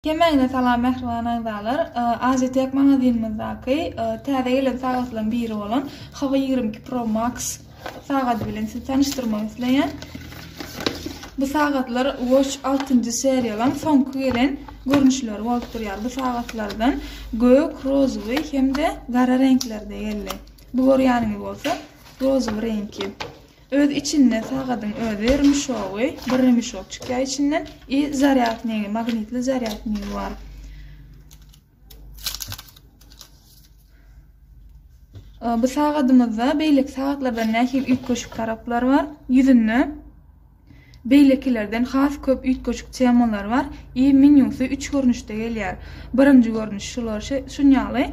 Hemmäňize salam mähriban agzalar! Azitek magazinymyzdaky täze gelen sagatlaryň biri bolan Hava ýigrimi iki Pro Max sagady bilen sizi tanyşdyrmak isleýän. Bu sagatlar Watch altynjy seriýalaň soňky gelen görnüşleri bolup durýar. Bu sagatlardan gök, rozowy hem-de gara reňklerde geldi. Bu görýäniňiz bolsa rozowy reňki. Öz içinde sagadyň özi rymşogy, bir rymşok çykýar içinden i zarýadnigi, magnitli zarýadnigi bar. Bu sagadymyzda beýleki sagatlardan nähili üýtgeşik taraplar bar? Ýüzünde Beýlekilerden has köp üýtgeşik temalar bar. I menýusy üç görnüşde gelýär. Birinji görnüş şular şunýaly.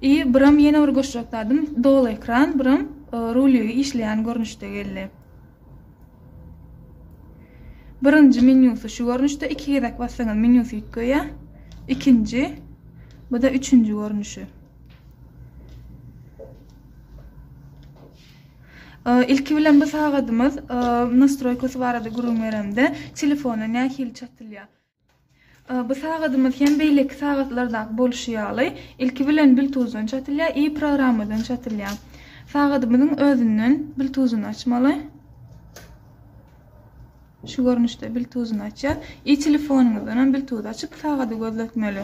I biram ýene bir goşjak zadym doly ekran, biram ruligi işleýän görnüşde geldi. Birinji menýusy şu görnüşde iki gezek bassaňyz menýusy üýtgeýär. Ikinji, bu-da üçünji görnüşi. Ilki bilen bu sagadymyz nastroýkasy barada gürrüň beremde, telefona nähili çatylýar? Bu sagadymyz hem beýleki sagatlardaky bolşy ýaly, ilki bilen biltuzdan çatylýar i programmadan çatylýar. Sagadymyzyň özünden biltuzyny açmaly. Şu görnüşde biltuzyny açýar. I telefonyňyzdan hem biltuzy açyp sagady gözletmeli.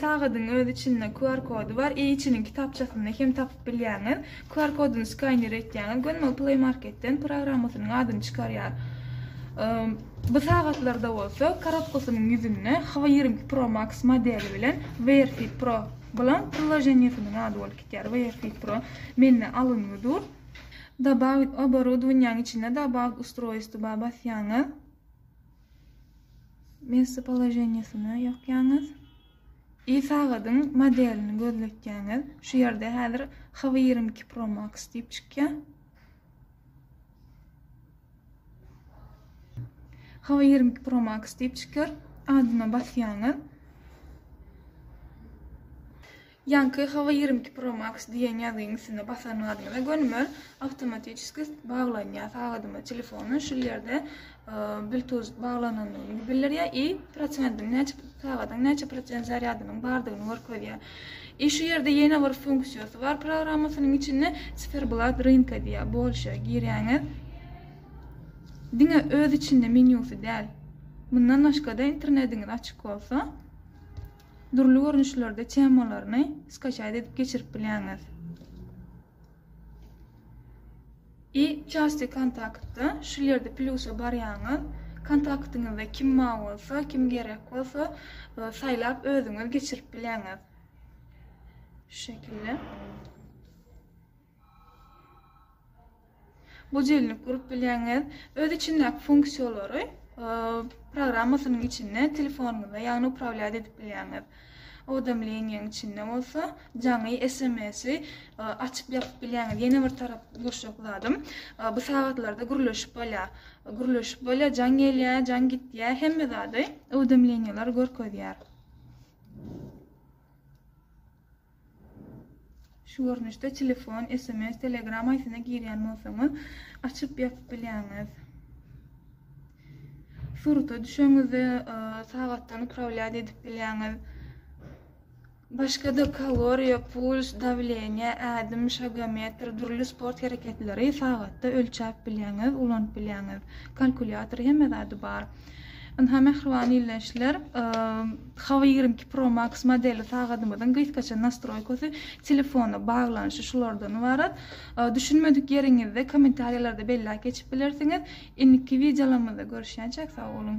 Sagadyň öz içinde QR kody bar, EIC-niň kitapçasynda hem tapyp bilýäňiz. QR kodyny skaner etýäňiz, gönmel Play Market-den programmasynyň adyny çykarýar. Bu sagatlarda bolsa korobkasynyň ýüzünde Hwa ýigrimi Pro Max modeli bilen Wear Fit Pro Blank priloženiýesiniň ady bolup gitýär. Wear Fit Pro mende alyngy dur. Dobawit oboroudowaniýaň içinde Dobawit ustroýstwa basýaňyz. Messopoloženiýasyny ýokýaňyz. I sagadyň modelini gözletýäňiz. Şu ýerde häzir HW ýigrimi iki Pro Max diýip çykýar. HW ýigrimi iki Pro Max diýip çykýar. Adyna basýaňyz. Ýaňky Hawa ýigrimi iki Pro Max diýen ýazgyň üstüne basanyňyzda gönümel awtomatiçeski baglanýar sagadyma telefonyň şul ýerde Bluetooth baglanandygyny bildirýär i prosentiň näçe sagadyň näçe prosent zarýadynyň bardygyny görkezýär. I şu ýerde ýene bir funksiýasy bar programmasynyň içinde Ciferblad rynka diýýär bolşa girýäňiz diňe öz içinde menýusy däl mundan başgada internetiňiz açyk bolsa Dürli görnüşlerde temalaryny skaçaýt edip geçirip bilýäňiz. I Çasti kontaktda şul ýerde plýusa barýaňyz, kontaktyňyzda kim bar bolsa, kim gerek bolsa saýlap özüňiz geçirip bilýäňiz. Şu şekilde. Bu jelinlik gurup bilýäňiz. Öz içindäki funksiýalary programmasynyň içinde telefonyňyzda, ýagny uprawlýat edip bilýäňiz. Owdemleniýäň içinde bolsa jaňy SMS-i açyp ýapyp bilýäňiz. Ýene bir tarap gurşak zadym, bu sagatlarda gürleşip bolýar. Gürleşip bolýar, jaň gelýär, jaň gitýär, hemme zady owdemleniýalar görkezýär. Şu görnüşde telefon, sms, telegram haýsyna girýän bolsaňyz, açyp ýapyp bilýäňiz. Surata düşeňizde e, sagatdan upravlýat edip bilýäňiz. Başga-da kaloriýa, puls, dawleniýe, ädim, şagometr, dürli sport hereketleri sagatda ölçäp bilýäňiz, ulanyp bilýäňiz. Kalkulýator hemme zady bar. Ynha mähriban ildeşler, Hava ýigrimi iki Pro Max modeli sagadymyzyň gysgaça nastroýkasy, telefona baglanyşy şulardan ybarat. Düşünmedik ýeriňizde kommentariýalarda belläp geçip bilersiňiz. Indiki wideolarymyzda görüşýänçäk, sag boluň!